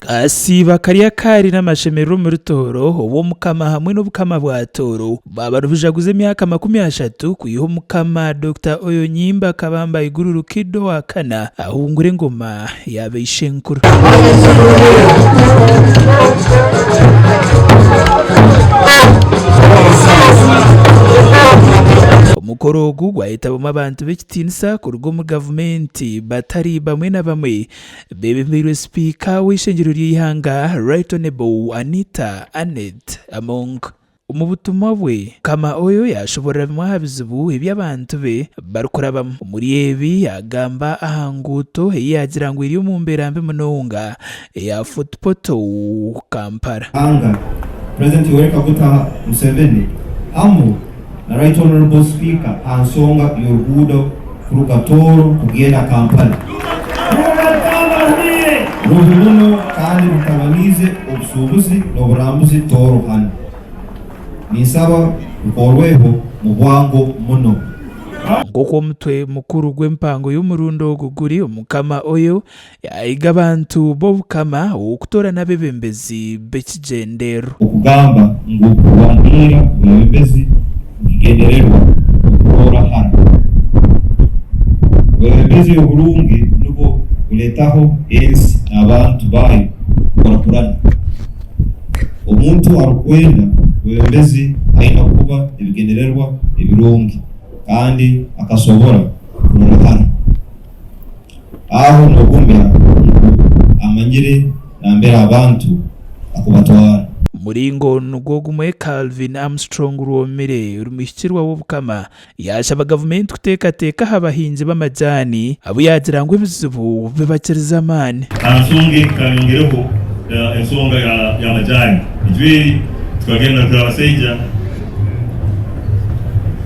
Akasiibo akari akaari n'amashemererwa omuri Tooro, Obw'omukama hamwe n'Obukama bwa Tooro bwaba nibujaguza emyaka makumi ashatu kwiha Omukama Dokita Oyonyimba Kabamba Iguru Rukidi owa kana ahungura engoma ya baishenkuru. Omukoro ogu gwayetabwamu abantu b'ekitiinisa. Tiinisa kuruga omu gavumenti batari bamwe na bamwe bebemeirwe sipiika w'eishengyero ry'eihanga Right Honourable Anita Annet Among. Omu butumwa bwe, Mukama Oyo yashoborora bimwe aha bizibu ebi abantu be barikurabamu. Omuri ebi yagamba aha nguuto eyi yagira ngu eri omu mbeera mbi munonga, eya Fort Portal, Kampala. Anga, President Yoweri Kaguta Museveni hamu na Right Honourable Speaker aha nsonga y'oruguudo kuruga Tooro kugenda Kampala rubi muno kandi rutabaniize obusuubuzi n'oburambuzi Tooro hanu. Ninsaba rukoorweho mu bwango muno. Nk'oku omutwe mukuru gw'empango y'omurundi ogu guri, Omukama Oyo Yahiga abantu b'Obukama kutoorana abeebembezi b'ekigyenderwa. Okugamba ngu waahiga obureebembezi nikigendererwa okutoora hara. Obureebembezi oburungi nibwo bureetaho ensi n'abantu baayo kukurakurana. Omuntu arikwenda obureebembezi aine kuba n'ebigendererwa ebirungi kandi akasobora kurola hara. Aho nogumya ngu amanyire nambere abantu akubatwara. Muringo nugwo gumwe Calvin Armstrong Rwomire ori mwihikirwa w'Obukama yashaba gavumenti kutekateka aha bahingi b'amajaani abu yagira ngu ebizibu bibakirize amaani. Aha nsonga egi kayongireho ensonga ya majaani ejweeri tukagenda kuri abasaija.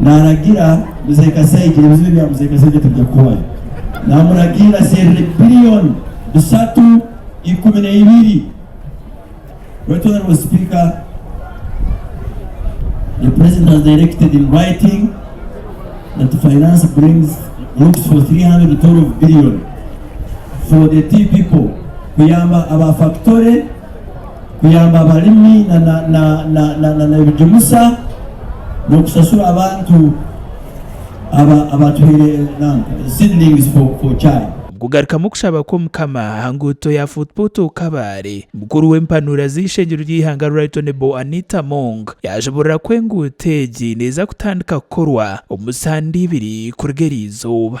naragira mzee kasaija ebizibu ebya mzee kasaija tibija kuhwayo namuragira aserure billion bisatu ikumi na ibiri right honorable speaker the president has directed in writing that the finance brings looks for 312 billion for the tea people kuyamba aba factory kuyamba abalimi na ebigimusa n'okusasura abantu abatuhaire seedlings for chai. Kugarukamu okushaba kw'Omukama aha nguuto ya Fort Portal Kabale, mukuru w'empanuura z'eishengyero ry'eihanga Right Honourable Anita Among yaajuburira ku enguuto egi neeza kutandika kukorwa omu sande ibiri kuruga eri izooba.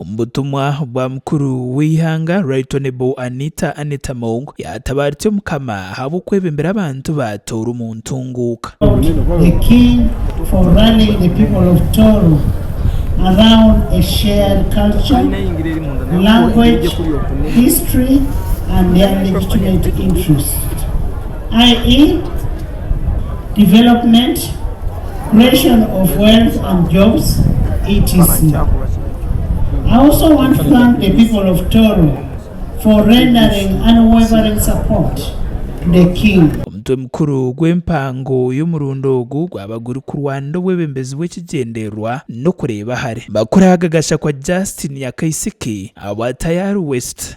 Omu butumwa bwa mukuru w'eihanga Right Honourable Anita Annet Among yaatabaarize Omukama ahabw'okwebimbira abantu ba Tooro omu ntunguuka. development, creation of wealth and jobs etc. I also want to thank the people of Tooro for rendering unwavering support to the King. Omutwe mukuru gw'empango y'omurundi ogu gwaba guri kurwanira obwebembezi bw'ekigyendererwa n'okureeba ahari. Makuru aga gashakwa Justine Nyakaisiki ahabwa Tayari West.